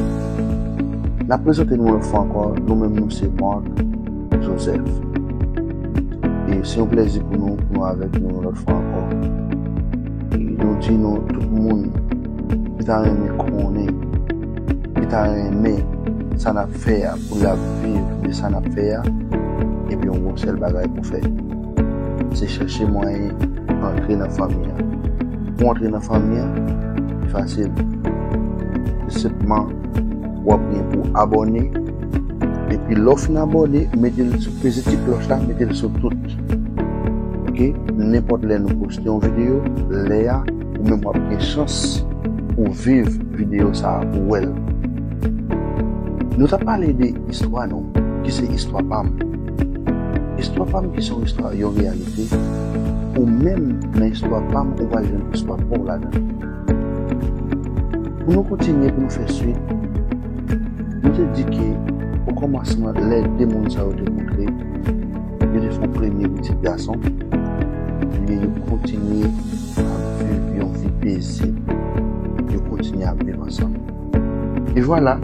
N ap prezante nou lòt fwa ankò, nou menm nou se Marc Joseph. E se yon plèzi pou nou pou nou avèk nou yon lòt fwa ankò. E nou di nou tout moun ki ta renmen konnen, ki ta renmen sa n ap fè a pou l ap viv de sa n ap fè a, ebyen yon sèl bagay pou fè. Se chèche mwayen antre nan fanmi an. Pou w antre nan fanmi an, li fasil. Se senpman w ap gen pou abòne. Epi lè w fin abòne, mete l sou, peze ti klòch la, mete l sou tout. Ok? Nenpòt lè nou poste yon videyo, lè a, ou menm w ap gen chans pou w viv videyo sa a, pou w wè l. Nou t ap pale de istwa nou. Ki se istwa pa m. Istwa pam ki se yon istwa yon reyalite ou menm nan istwa pam ou pral jwenn istwa paw ladan l. Pou nou kontinye pou nou fè swit nou te di ke okòmansman lè 2 moun sa yo te kontre yo te fè yon premye pitit gason ebyen yo kontinye ap viv yon vi pezib yo kontinye ap viv ansanm. E vwala,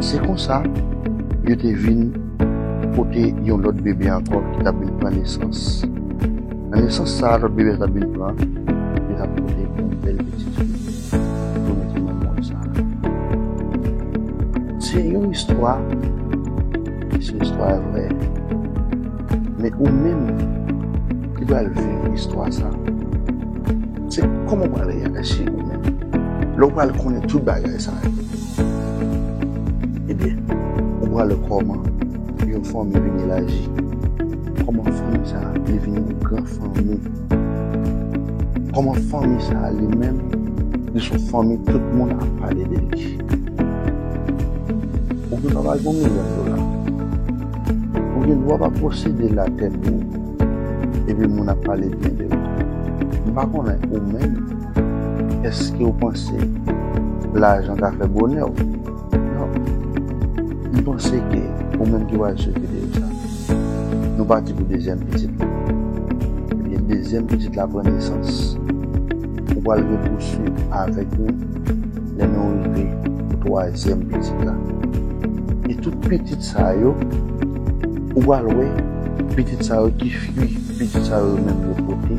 se konsa, yo te vin pote yon lòt bebe ankò ki t ap vin pran nesans. Nan nesans sa a lòt bebe a t ap vin pran, li t ap pote yon bèl pitit fi pou mete nan monn sa a. Se yon istwa ki se istwa vrè. Men ou menm ki pral viv istwa sa a. Se kòman ou pral reyaji ou menm lè ou pral konnen tout bagay sa yo? Ebyen, ou pral wè kòman yon fanmi vin elaji, kòman fanmi sa a li vin yon gran fanmi, kòman fanmi sa a li menm li son fanmi tout moun ap pale de li. Ou gen dwa pa gen yon milyon dola, ou gen dwa pa posede latè men. epi moun ap pale byen de ou. M pa konnen ou menm, èske ou panse lajan ka fè bonè w? Non. M panse ke ou menm ki pral sou video sa, nou pati pou dezyèm pitit la. Ebyen dezyèm pitit la pran nesans, ou pral repousuiv avèk nou lè nou rive pou twazyèm pitit la. E tout pitit sa yo ou pral wè pitit sa yo ki fwi pitit sa yo menm yo pote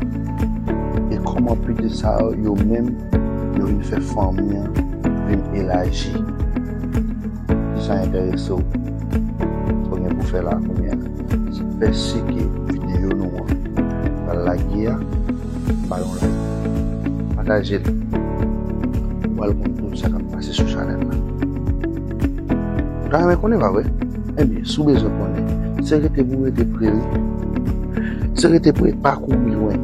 e kòman pitit sa yo menm yo vin fè fanmi an vin elaji si sa enterese w sa w gen pou fè la kounye a se fè sike videyo nou an pral lage a ba l yon like pataje l pou w al konn tout sa k ap pase sou chanèl la. Ta renmen konnen pa vre? Ebyen si w bezwen konnen, se rete pou w rete pre wi. Se rete pre, pa kouri lwen.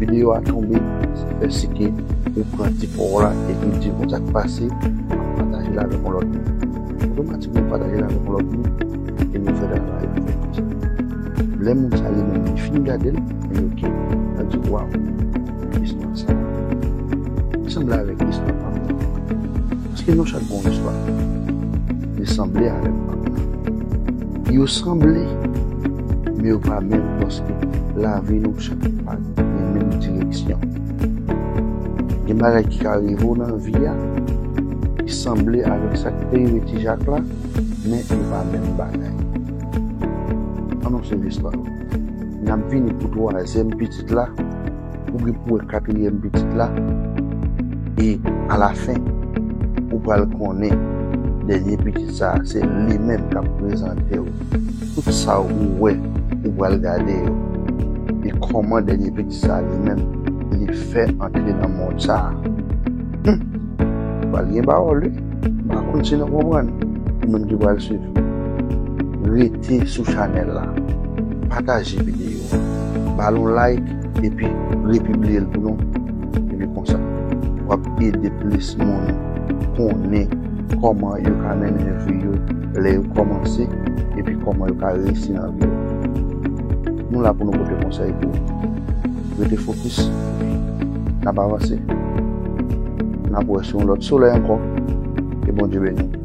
Videyo a tonbe, se fè si ke ou pran ti pa w la epi w di nou sa k pase, ou pataje l avèk yon lòt moun. Otomatikman ou pataje l avèk yon lòt moun e nou fè travay la fè konsa. Lè moun sa li menm li fin gade l, li ok, lap di waw, istwa sa sanble avèk istwa pa m nan. Ske nou chak gon istwa? Li sanble avèm nan. Yo sanble, men yo pa menm paske lavi nou chak pa gen menm direksyon. Gen bagay ki ka rive w nan vi a ki sanble avèk sa ki te rive Ti Jak la, men yo pa menm bagay. An nou swiv istwa yo. N ap vini pou twazyèm pitit la ou gen pou wè katriyèm pitit la, e alafen, ou pral konnen dènye pitit sa a se li menm k ap prezante w tout sa ou wè, ou pral gade yo, e kòman dènye pitit sa a li menm li fè antre nan mond sa a. Hum! Pral gen pawòl wi, m pa konn si nou konprann, ou menm ki pral swiv. Rete sou chanèl la, pataje videyo a, ba l yon like, Epi repibliye l pou nou. Epi konsa, w ap ede plis moun konnen kòman yo ka mennen vi yo lè yo kòmanse epi kòman yo ka reyisi nan vi yo. Nou la pou nou pote konsèy pou ou. Rete fokis epi n ap avanse. N ap wè sou yon lòt solèy ankò. Ke Bondye beni w!